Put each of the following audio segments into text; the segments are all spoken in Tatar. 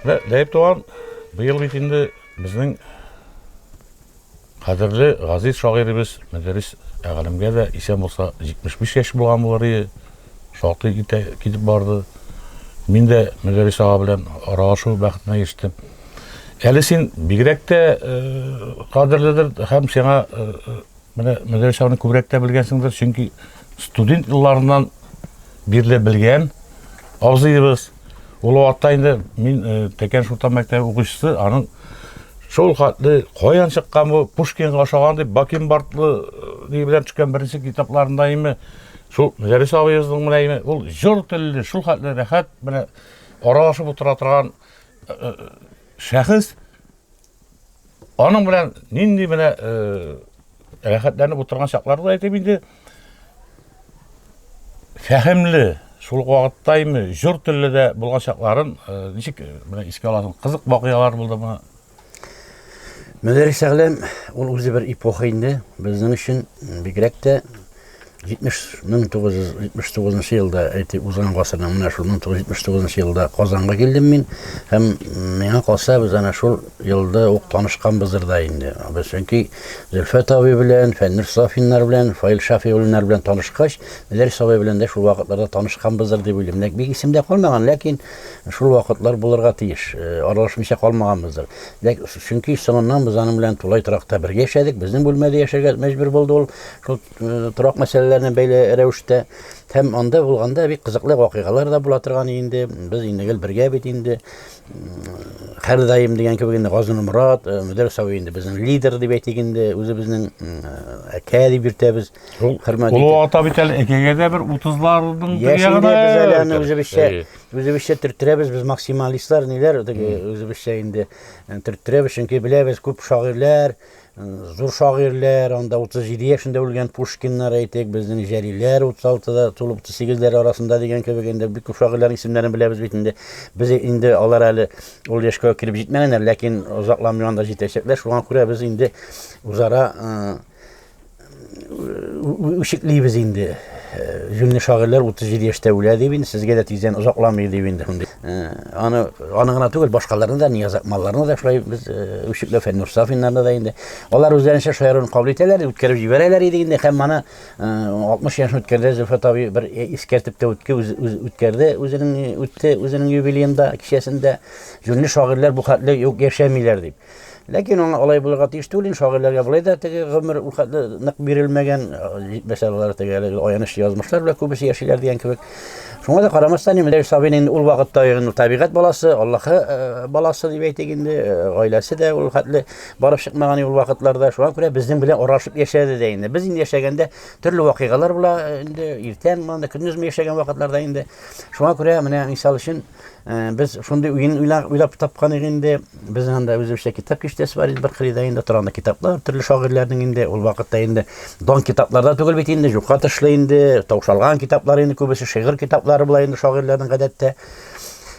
Ләйб туган, быел бит инде безнең кадерле газиз шагыйребез Мәдәрис әгалемгә дә исән булса 75 яшь булган булыр ие. Шактый китә китеп барды. Мин дә Мәдәрис ага белән аралашу бәхетенә ирештем. Әле син бигрәк тә э, кадерледер һәм сиңа э, Менә Мөдәрис абыны күбрәк тә белгәнсеңдер, чөнки студент елларыннан бирле белгән абзыебыз. Ул вакытта инде мин э, Тәкән Шуртан мәктәбе укучысы, аның шул хәтле каян чыккан бу Пушкинга ошаган дип Бакенбардлы э, белән төшкән беренче китапларында име шул Мөдәрис абыебызның менә име ул җор телле, шул хәтле рәхәт менә аралашып утыра торган э, э, шәхес Аның белән нинди менә э, рәхәтләнеп утырган чаклары да әйтеп инде фәһемле шул ук вакытта инде җор телле дә булган чакларын э, ничек э, менә искә аласың кызык вакыйгалар булдымы Мөдәррис Әгъләм ул үзе бер эпоха инде. Безнең өчен бигрәк тә 1979 нчы елда, әйтик, узган гасырның менә шул 1979 нчы елда Казанга килдем мин һәм миңа калса без ана шул елда ук танышканбыздыр да инде. Без чөнки Зөлфәт абый белән, Фәннүр Сафиннар белән, Фаил Шафигуллиннар белән танышкач, Мөдәррис абый белән дә шул вакытларда танышканбыздыр дип уйлыйм. Ләкин бик исемдә калмаган, ләкин шул вакытлар булырга тиеш. Э, аралашмыйча калмаганбыздыр. Ләкин чөнки соңыннан без аның белән тулай торакта бергә яшәдек, безнең бүлмәдә яшәргә мәҗбүр булды ул. Шул э, торак мәсьәләләренә бәйле рәвештә һәм анда булганда бик кызыклы вакыйгалар да була торган инде. Без инде гел бергә бит инде. Хәрдаим дигән кебек инде Газин Мурат, э, Мөдәр Сави инде безнең лидер дип әйтик инде, үзебезнең әкә дип йөртәбез. Хөрмәт итеп. Ул ата бит әле әкәгә дә бер 30-ларның ягына. Без әле аны үзебезчә, үзебезчә төрттерәбез, без максималистлар ниләр, теге үзебезчә инде э, төрттерәбез, чөнки беләбез күп шагыйрьләр Зур шагыйрьләр, анда 37 яшендә үлгән Пушкиннар әйтик, безнең Җәлиләр 36-да тулып 38-ләр арасында дигән кебек инде бик күп шагыйрьләрнең исемнәрен беләбез бит инде. Без инде алар әле ул яшькә кереп җитмәгәннәр, ләкин озакламый анда җитәчәкләр, шуңа күрә без инде үзара үчеклибез инде. Җүнле шагыйрьләр 37 яшьтә үлә дип инде, сезгә дә тиздән озакламый дип инде шундый. Аны аны гына түгел, башкаларны да, Нияз Акмалларны да шулай без үчекләп Фәннур Сафиннарны да инде. Алар үзләренчә шаяруын кабул итәләр, үткәреп җибәрәләр иде инде һәм аны 60 яшен үткәрде Зөлфәт абый бер искәртеп тә үтте, үткәрде үзенең үтте үзенең юбилеенда, кичәсендә. Җүнле шагыйрьләр бу хәтле юк яшәмиләр дип. Ләкин аңа алай булырга тиеш түгел инде, шагыйрьләргә болай да теге гомер ул хәтле нык бирелмәгән, җитмәсә алар теге әлеге аянычлы язмышлар белән күбесе яшиләр дигән кебек. Шуңа да карамастан, инде Ләйс абыйны инде ул вакытта инде табигать баласы, Аллаһы э, баласы дип әйтик инде, э, гаиләсе дә ул хәтле барып чыкмаган ул вакытларда. Шуңа күрә безнең белән аралашып яшәде дә инде. Без инде яшәгәндә төрле вакыйгалар була э, инде, иртән монда көндезме яшәгән вакытларда инде. Шуңа күрә менә мисал өчен Э, без шундый уен уйлап тапканык инде. Без анда үзебезчә китап киштәсе бар иде, бер кырыйда инде торганда китаплар, төрле шагыйрьләрнең инде ул вакытта инде дан китапларда түгел бит инде, юкка тышлы инде, таушалган китаплар инде күбесе шигырь китаплары була инде шагыйрьләрнең гадәттә.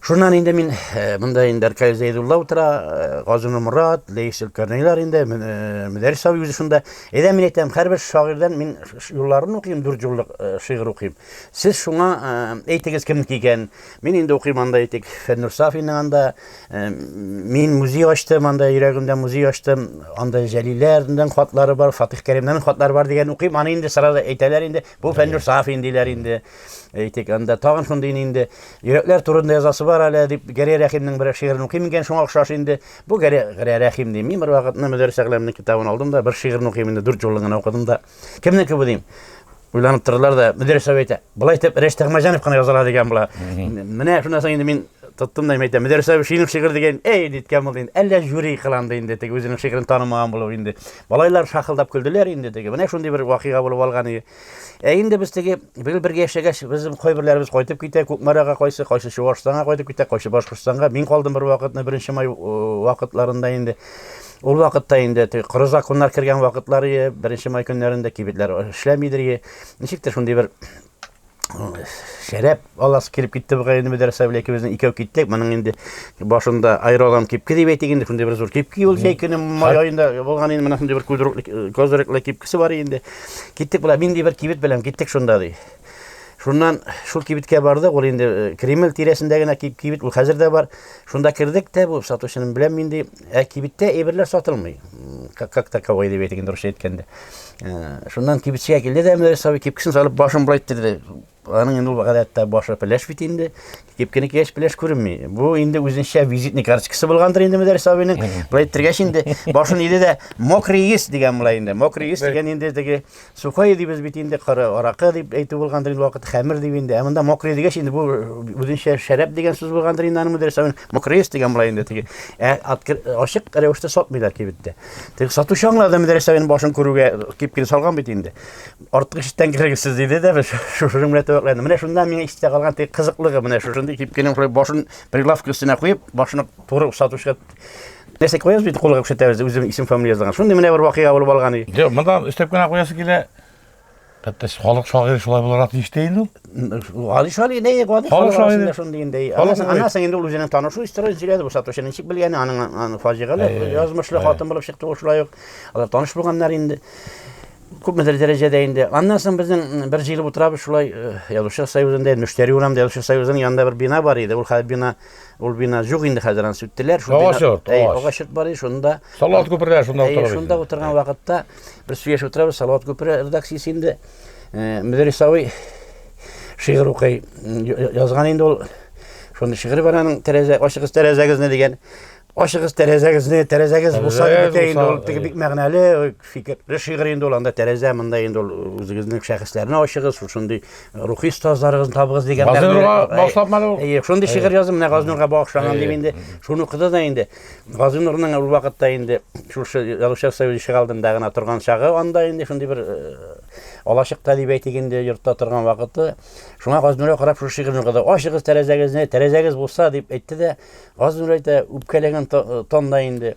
Шуннан инде мин э, монда инде Аркадий Зәйдулла утыра, э, Газыны Мурат, Лейс Өлкәрнейлар инде, Мөдәрис абый үзе шунда. Әйдә мин әйтәм, һәрбер шагыйрьдән мин юлларын укыйм, дүрт юллык шигырь укыйм. Сез шуңа әйтегез кемнеке икән? Мин инде укыйм анда әйтик, Фәннур Сафинның анда. Э, мин музей ачтым, анда йөрәгемдә музей ачтым. Анда Җәлиләрнең хатлары бар, Фатих Кәримнең хатлары бар дигән укыйм. Аны инде сразу әйтәләр инде. Бу Фәннур Сафин диләр инде. Әйтик, анда тагын шундый инде йөрәкләр турында язасы бар әле дип Гәрәй Рәхимнең бер шигырен укыйм икән, шуңа охшаш инде. Бу Гәрәй Рәхим дим. Мин бер вакытны Мөдәррис Әгъләмнең китабын алдым да, бер шигырен укыйм инде, дүрт җолын гына укыдым да. Кемнеке бу дим? уйланып тордылар да мөдир сәбәп әйтә болай итеп рәш тәгмәҗанов кына яза ала дигән була менә шуннан соң инде мин тоттым да әйтә мөдир сәбәп шигырь шигырь дигән әй ниткән булды инде әллә жюри кыланды инде теге үзенең шигырен танымаган булып инде малайлар шахылдап көлделәр инде теге менә шундый бер вакыйга булып алган иде ә инде без теге быел бергә яшәгәч безнең кайберләребез кайтып китә күкмарага кайсы кайсы чуашстанга кайтып китә кайсы башкортстанга мин калдым бер вакытны беренче май вакытларында инде Ул вакытта инде теге коры законнар кергән вакытлар ие, беренче май көннәрендә кибетләр эшләмидер ие. Ничектер шундый бер шәрәп аласы килеп китте бугай инде мәдрәсә белән икебезнең икәү киттек. Моның инде башында аэролам кипке дип әйтик инде, шундый бер зур кипки ул җәй көне май аенда булган инде, менә шундый бер кудырыклы козырыклы кипкесе бар инде. Киттек була, мин ди бер кибет белән киттек шунда ди. Шуннан шул кибеткә бардык, ул инде э, Кремль тирәсендә генә кибет, ул хәзер дә бар. Шунда кердек тә, бу сатучының белән мин ди, Ә кибеттә әйберләр сатылмый. Как таковой дип әйтик, дөрес әйткәндә. Э, шуннан кибетчегә килде дә Мөдәрис абый кипкесен салып башын былай иттерде. Аның инде ул гадәттә башы пеләш бит инде. Кипкене кигәч пеләш күренми. Бу инде үзенчә визитный карточкасы булгандыр инде Мөдәрис абыйның. Былай иттергәч инде башын иде дә мокрый ис дигән була инде. Мокрый ис дигән инде теге Сухое дибез бит инде, коры аракы дип әйтү булгандыр инде вакыт, хәмер дип инде. Ә монда мокрый дигәч инде бу үзенчә шәраб дигән сүз булгандыр инде аның мөдәррис аны мокрыйс дигән була инде теге. Ә ачык рәвештә сатмыйлар кибеттә. Теге сатучы аңлады мөдәррис абыйның башын күрүгә кипкин салган бит инде. Артык эштән кергесез диде дә шушы белән тәвәкләнде. Менә шунда миңа истә калган теге кызыклыгы менә шушындый кипкинең шулай башын прилавка өстенә куеп, башын туры сатучыга Нәрсә куясыз бит кулга күрсәтәбез үзем исем фамилия язган. Шундый менә бер вакыйга булып алган иде. Юк, монда өстәп кенә куясы килә. Хәтта халык шагыйрь шулай буларак тиеш тә инде ул. Али шагыйрь инде, гади халык шагыйрь шундый инде. Анасы инде ул үзенең танышу история сөйләде, бу сатучы ничек белгән, аның фаҗигале, язмышлы хатын булып чыкты ул шулай ук. Алар таныш булганнар инде. Күпмедер дәрәҗәдә инде. Аннан соң безнең бер җыелып утырабыз шулай э, язучы союзында, мөштәри урамында язучы союзының янында бер бина бар иде. Ул хәзер бина Ул бина жук инде хәзер аны сүттеләр. Шул бина йорт, агач йорт бар шунда. Салават күперләр шунда утыра. Шунда утырган вакытта бер сөйләшеп утырабыз, Салават күпере редакциясе инде э, Мөдәрисавый шигырь укый. Язган инде ул. Шуны шигырь бар аның тәрәзә, ачыгыз тәрәзәгезне дигән. Ашыгыз тәрәзәгезне, тәрәзәгез булса Тәрәзәгез бетә инде булса, ул теге әйе. бик мәгънәле э, фикерле шигырь инде ул анда тәрәзә монда инде ул үзегезнең шәхесләрне ачыгыз, шул шундый рухи остазларыгызны табыгыз дигән Газинурга мәгънә- әй- багышлапмады ул? Әйе, шундый шигырь язды менә Газинурга багышланган Әйе. дип инде шуны укыды да инде. Газинурның ул вакытта инде шушы Язучылар союзы ишек алдында гына торган чагы анда инде шундый бер э, алачыкта дип әйтик инде йортта торган вакыты. Шуңа Газинурга карап шушы шигырьне укыды. Ачыгыз тәрәзәгезне, тәрәзәгез булса дип әйтте дә Газнур әйтә, үпкәләгән тонда инде.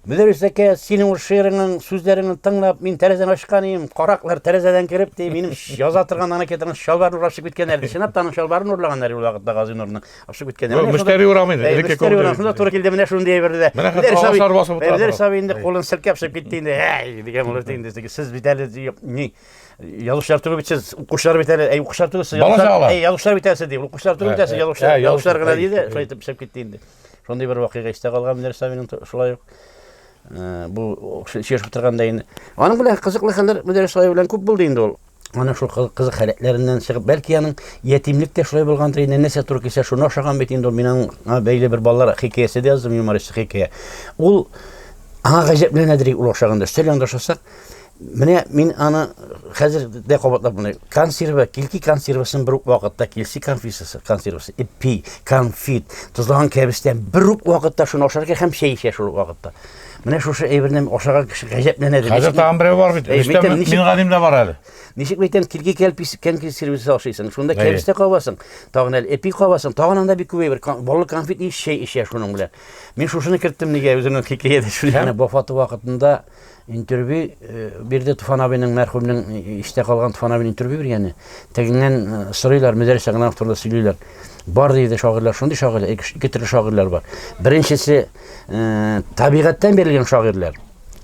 Мөдәррис әкә, синең ул шигыреңнең сүзләреңне тыңлап, мин тәрәзәне ачкан идем. Караклар тәрәзәдән кереп, ди, минем яза торган анакетаның чалбарын урлашып киткәннәр. Чынлап та аның чалбарын урлаганнар ул вакытта Газинурның ашып киткәннәр. Бу мөштәри урамы инде. Элекке көн. Шунда туры килде менә шундый әйберне дә. Менә хәзер агачлар басып утыра. Мөдәррис абый инде кулын селкәп чыгып китте инде. Әй, дигән булды инде. Сез бит әле ни Язучылар түгел бит сез, укучылар бит әле. Әй, укучылар түгел сез. Бала чагалар. Әй, язучылар бит әле сез, ди. Укучылар түгел бит әле сез, язучылар. Язучылар гына диде, шулай итеп пешеп китте инде. Шундый бер вакыйга истә калган менә Савинин шулай ук. Э, бу шешеп торганда инде. Аның белән кызыклы хәлләр Мөдәрис Савин белән күп булды инде ул. Аның шул кызык халәтләреннән чыгып, бәлки аның ятимлек тә шулай булгандыр, инде нәрсә туры килсә, шуны ошаган бит инде ул. Мин аңа бәйле бер балалар хикәясе дә яздым, юмористик хикәя. Ул аңа гаҗәпләнәдер ул ошаганда. Өстәл янында ошасак, Менә мин аны хәзер дә кабатлап менә консерва, килки консервасын бер үк вакытта килси конфисасы, консервасы, ипи, конфит, тозлаган кәбестән бер үк вакытта шуны ашар икән һәм чәй эчә шул вакытта. Менә шушы әйберне ашаган кеше гаҗәпләнә дә. Хәзер тагын берәү бар бит. Әй, Эштә битем, ничек- мин гадим дә бар әле. Ничек бәйтәм, килки кәлпис, кәнкис сервисы ашыйсың. Шунда Әйе. кәбестә кабасың, тагын әле эпи кабасың, тагын анда бик күп әйбер. Кан- Баллы конфит ич чәй эчә шуның белән. Мин шушыны керттем нигә үземнең хикәядә шул яна вафаты вакытында Интервью э, бирде Туфан абыйның мәрхүмнең э, иштә калган Туфан абыйның интервью биргәне. Тегеннән э, сорыйлар, Мөдәррис Агнанов турында сөйлиләр. Бар диде шагыйрьләр, шундый шагыйрьләр, ике төрле шагыйрьләр бар. Беренчесе табигатьтән бирелгән шагыйрьләр.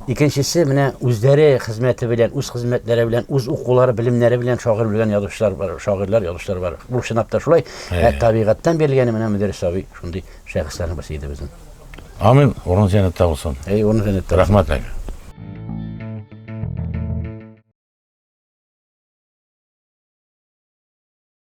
Икенчесе менә үзләре хезмәте белән, үз хезмәтләре белән, үз укулары, белемнәре белән шагыйрь белгән язучылар бар, шагыйрьләр, язучылар бар. Бу чынлап та шулай. Ә табигатьтән бирелгәне менә Мөдәррис абый шундый шәхесләрнең берсе иде безнең. Амин, урын җәнәттә булсын. Әй, урын җәнәттә. Рәхмәт әй.